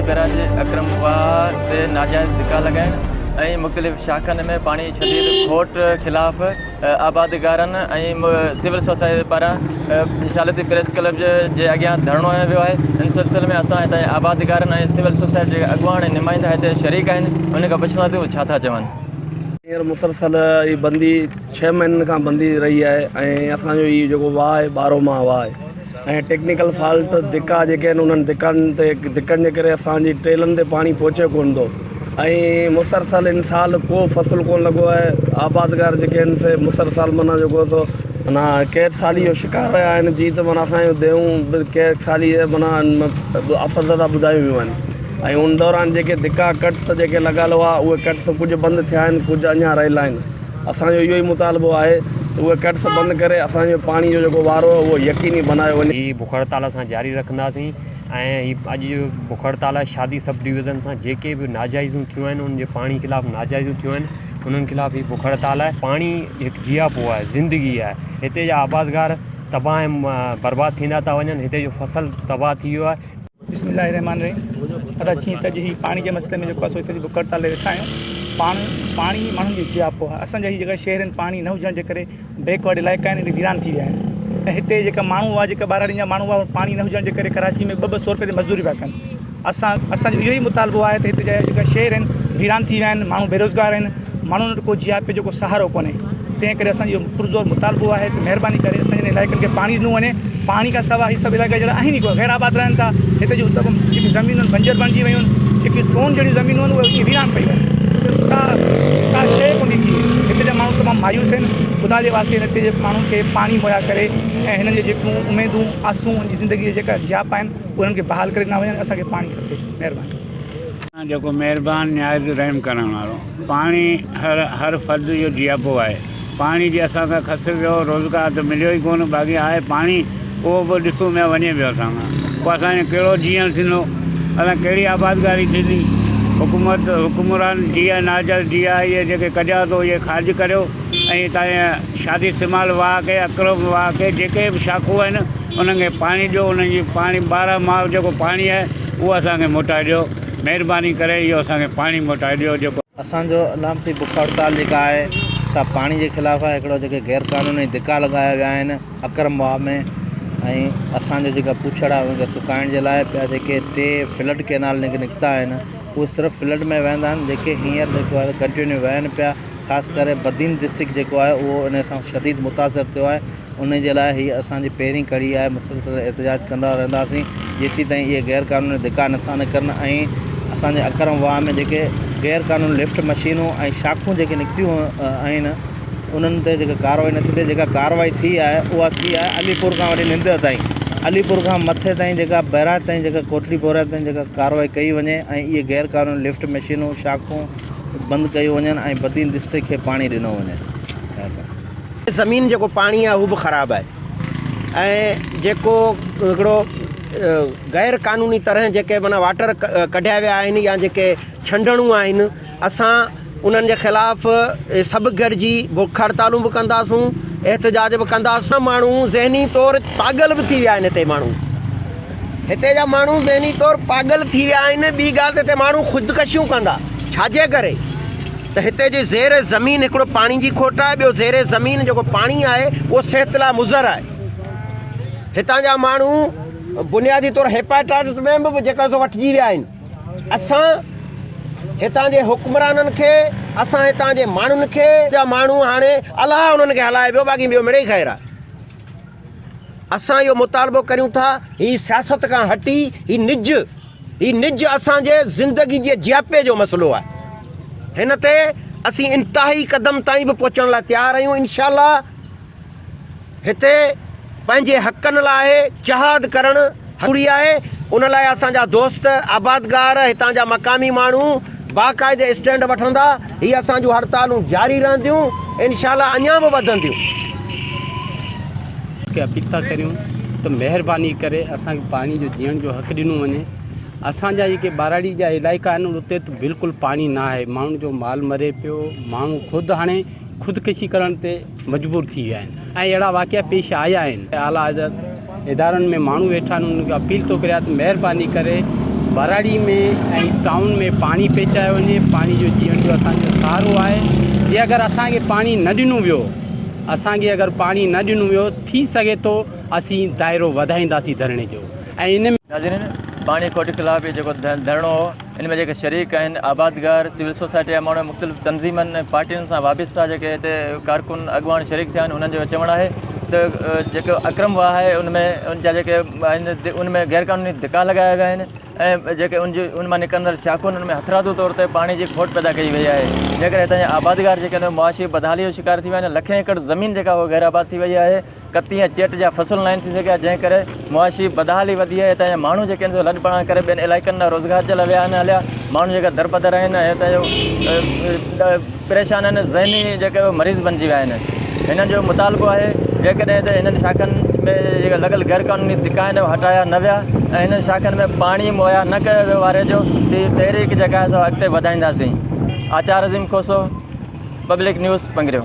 Barrage Akram Wah تي ناجائز ڌڪا لڳائڻ ۽ مختلف شاخن ۾ پاڻي ڇڏي کٽ خلاف آبادگارن ۽ سول سوسائٽي پاران شالتي پريس ڪلب جي اڳيان ڌرڻو هنيو ويو آهي ان سلسلي ۾ اسان هتان جي آبادگارن ۽ سول سوسائٽي جي اڳواڻ ۽ نمائندا هتي شريڪ آهن انهن کان پڇيون ٿا ته هو ڇا ٿا چون. هينئر مسلسل هي بندي ڇهه مهينن کان بندي رهي آهي ۽ اسان جو هي جيڪو واهه آهي ٻارهون ماهه واهه آهي ۽ ٽيڪنيڪل فالٽ ڌڪا جيڪي آهن انهن ڌڪن تي ڌڪن جي ڪري اسان جي ٽيلن تي پاڻي پهچي ڪونه ٿو ۽ مسرسل ان سال ڪو فصل ڪونه لڳو آهي آبادگار جيڪي آهن سي مسرسل معنيٰ جيڪو سو معنيٰ قحط سالي جو شڪار رهيا آهن جي ته معنيٰ اسان جون ديون به قحط سالي جي معنيٰ اثر زده ٻڌايون ويون آهن ۽ ان دوران جيڪي ڌڪا ڪٽس جيڪي لڳل هئا اهي ڪٽس ڪجهه بند ٿيا آهن ڪجهه اڃا رهيل آهن اسانجو اهو ئي مطالبو آهي ته اهي ڪٽس بند ڪري اسانجو پاڻي جو جيڪو وارو اهو يقيني بنايو وڃي. هي بک هڙتال اسان جاري رکنداسين. ۽ هي اڄ جو بک هڙتال آهي شادي سب ڊويزن سان جيڪي به ناجائزون ٿيون آهن ان جي پاڻي خلاف ناجائزون ٿيون آهن انهن خلاف هي بک هڙتال آهي پاڻي هڪ جياپو آهي زندگي آهي هتي جا آبادگار تباهه ۽ برباد ٿيندا ٿا وڃن هتي جو فصل تباهه ٿي ويو آهي بسم الله الرحمن الرحيم ادا جي ته جي پاڻي جي مسئلي ۾ جو ڪاسو ته جي بک هڙتال وٺايو پاڻي پاڻي ماڻهن جي جياپو آهي اسان جي جيڪا شهر ۾ پاڻي نه هجڻ جي ڪري بيڪ ورڊ علائقا آهن اهي ويران ٿي ويا آهن ۽ هتي جيڪا ماڻهو هئا جيڪا ٻهراڙين جا ماڻهو هئا پاڻي نه هجڻ جي ڪري ڪراچي ۾ ٻه ٻه سو رپئي تي مزدوري پيا ڪن اسان اسانجو اهو ئي مطالبو آهي ته هتي جا جيڪا شهر آهن ويران ٿي ويا آهن ماڻهو بيروزگار آهن ماڻهن وٽ ڪو جي آء پي جو ڪو سهارو ڪونهي تنهن ڪري اسانجو پرزور مطالبو آهي ته مهرباني ڪري اسان جي علائقن کي پاڻي ڏنو وڃي پاڻي کان سواء هي سڀ علائقا جهڙا آهن ئي ڪونه، غير آباد رهن ٿا. هتي جون اتر ۾ جيڪي زمينون آهن بنجر بڻجي ويون آهن، جيڪي سون جهڙيون زمينون آهن اهي اتي ويران پئي ويون آهن، اتي ڪا ڪا شيء ڪونهي ٿي. هتي جا ماڻهو تمام مايوس آهن، خدا جي واسطي هتي جي ماڻهن کي پاڻي مهيا ڪري ۽ هنن جي جيڪيون اميدون آسون هن جي زندگي جا جيڪا جياپا آهن اهي هنن کي بحال ڪري ڏنا وڃن، اسان کي پاڻي کپي. مهرباني. جيڪو مهربان نهايت رحم ڪرڻ وارو. پاڻي هر هر فرد جو جياپو آهي. پاڻي جي اسان کان خسر ويو روزگار ته مليو ئي ڪونه باقي آهي پاڻي اهو به ڏسو ۾ وڃي پيو اسان کان پوء اسان جو ڪهڙو جيئڻ ٿيندو اسان ڪهڙي آبادگاري ٿيندي حڪومت حڪمران جيئا ناجل جيئا اهي جيڪي ڪڍيا اٿو اهي خارج ڪريو ۽ هتان جا شادي سمال واهه کي اڪرم واهه کي جيڪي به شاخون آهن انهن کي پاڻي ڏيو انهن جي پاڻي ٻارهن ماهه جيڪو پاڻي آهي اهو اسان کي موٽائي ڏيو مهرباني ڪري اهو اسان کي پاڻي موٽائي ڏيو جيڪو اسان جو علامتي بک هڙتال جيڪا آهي سا پاڻي جي خلاف آهي هڪڙو جيڪي غير قانوني ڌڪا لڳايا ويا آهن اڪرم واهه ۾ ۽ اسان جو جيڪا پڇڙ آهي ان کي سڪائڻ جي لاء ٻيا جيڪي ٽي فلڊ ڪينال نڪ نڪتا آهن اهي صرف فلڊ ۾ وهندا آهن جيڪي هينئر جيڪو آهي ڪنٽينيو وهن پيا خاص ڪري بدين ڊسٽرڪٽ جيڪو آهي اهو ان سان شديد متاثر ٿيو آهي انهي جي لاء هيء اسان جي پهرين ڪڙي آهي، مسلسل احتجاج ڪندا رهنداسين، جيسيتائين اهي غير قانوني ڌڪا نٿا نڪرن ۽ اسان جي اڪرم واهه ۾ جيڪي غير قانوني لفٽ مشينون ۽ شاخون جيڪي نڪتيون آهن، انهن تي جيڪا ڪارروائي نٿي ٿئي، جيڪا ڪارروائي ٿي آهي، اها ٿي آهي علي پور کان وٺي ننديء تائين، علي پور کان مٿي تائين جيڪا بئراج تائين جيڪا ڪوٽڙي بئراج تائين جيڪا ڪارروائي ڪئي وڃي ۽ اهي غير قانوني لفٽ مشينون، شاخون بند ڪيون وڃن ۽ بدين دستي کي پاڻي ڏنو وڃي. زمين جيڪو پاڻي آهي اهو به خراب آهي ۽ جيڪو هڪڙو غير قانوني طرح جيڪي معنيٰ واٽر ڪڍيا ويا آهن يا جيڪي ڇنڊڻون آهن اسان انهن جي خلاف سڀ گڏجي بک هڙتالون به ڪنداسون احتجاج به ڪنداسون ماڻهو ذهني طور پاڳل به ٿي ويا آهن هتي ماڻهو هتي جا ماڻهو ذهني طور پاڳل ٿي ويا آهن ٻي ڳالهه ته هتي ماڻهو خودڪشيون ڪندا ڇاجي ڪري ته هتي جي زير زمين هڪڙو پاڻي جي کوٽ آهي ٻيو زير زمين جيڪو پاڻي آهي اهو صحت لاء مضر آهي هتان جا ماڻهو بنيادي طور هيپاٽائٽس ۾ به جيڪا سو وٺجي ويا آهن اسان هتان جي حڪمرانن کي اسان هتان جي ماڻهن کي جا ماڻهو هاڻي الله انهن کي هلائي ويو باقي ٻيو مڙئي خير آهي اسان اهو مطالبو ڪريون ٿا هي سياست کان هٽي هي نج هي نج اسان جي زندگي جي جياپي جو مسئلو آهي هن تي اسين انتهائي قدم تائين به پهچڻ لاء تيار آهيون انشاء الله هتي پنهنجي حقن لاء جهاد ڪرڻ ھڪڙي آھي، ان لاء اسان جا دوست، آبادگار، ھتان جا مقامي ماڻھو باقاعدي اسٽينڊ وٺندا، ھي اسان جون ھڙتالون جاري رھنديون، انشاء الله اڃان به وڌنديون. کي اپيل ٿا ڪريون ته مهرباني ڪري اسان کي پاڻي جو جيئڻ جو حق ڏنو وڃي اسان جا جيڪي ٻاراڙي جا علائقا آهن اتي ته بلڪل پاڻي نه آهي ماڻهن جو مال مري پيو ماڻهو خود هاڻي خودڪشي ڪرڻ تي مجبور ٿي ويا آهن ۽ اهڙا واقعا پيش آيا آهن اعليٰ حضرت ادارن ۾ ماڻهو ويٺا آهن انهن کي اپيل ٿو ڪريان ته مهرباني ڪري ٻهراڙي ۾ ۽ ٽائون ۾ پاڻي پهچايو وڃي پاڻي جو جيئڻ جو اسان جو سهارو آهي جي اگر اسان کي پاڻي نه ڏنو ويو اسان کي اگر پاڻي نه ڏنو ويو ٿي سگهي ٿو اسين دائرو وڌائينداسين ڌرڻي جو ۽ ان ۾ ناظرين پاڻي کوٽ خلاف جيڪو ڌرڻو هو ان ۾ جيڪي شريڪ آهن آبادگار، سول سوسائٽي جا ماڻهو، مختلف تنظيمن ۽ پارٽين سان وابسته جيڪي هتي ڪارڪن اڳواڻ شريڪ ٿيا آهن انهن جو چوڻ آهي ته جيڪو اڪرم واهه آهي ان ۾ ان جا جيڪي آهن ان ۾ غيرقانوني ڌڪا لڳايا ويا آهن ۽ جيڪي ان جي ان مان نڪرندڙ شاخون ان ۾ هٿرادو طور تي پاڻي جي کوٽ پيدا ڪئي وئي آهي جنهن ڪري هتان جا آبادگار جيڪي آهن معاشي بدحالي جو شڪار ٿي ويا آهن لکين ايڪڙ زمين جيڪا هو غيرآباد ٿي وئي آهي ڪتي ۽ چيٽ جا فصل ناهن ٿي سگهيا جنهن ڪري معاشي بدحالي وڌي آهي هتان جا ماڻهو جيڪي آهن سو لڏپلاڻ ڪري ٻين علائقن ڏانهن روزگار جي لاء ويا آهن هليا ماڻهو جيڪا درپدر آهن ۽ هتان جو پريشان آهن ذهني جيڪي مريض بنجي ويا آهن هنن جو مطالبو آهي جيڪڏهن هتي هنن شاخن ۾ جيڪي لڳل غير قانوني ڌڪا آهن هو هٽايا نه ويا ۽ هنن شاخن ۾ پاڻي مهيا نه ڪيو ويو واري جو هي تحريڪ جيڪا آهي سو اڳتي وڌائينداسين آچار عظيم کوسو پبلڪ نيوز پنگريو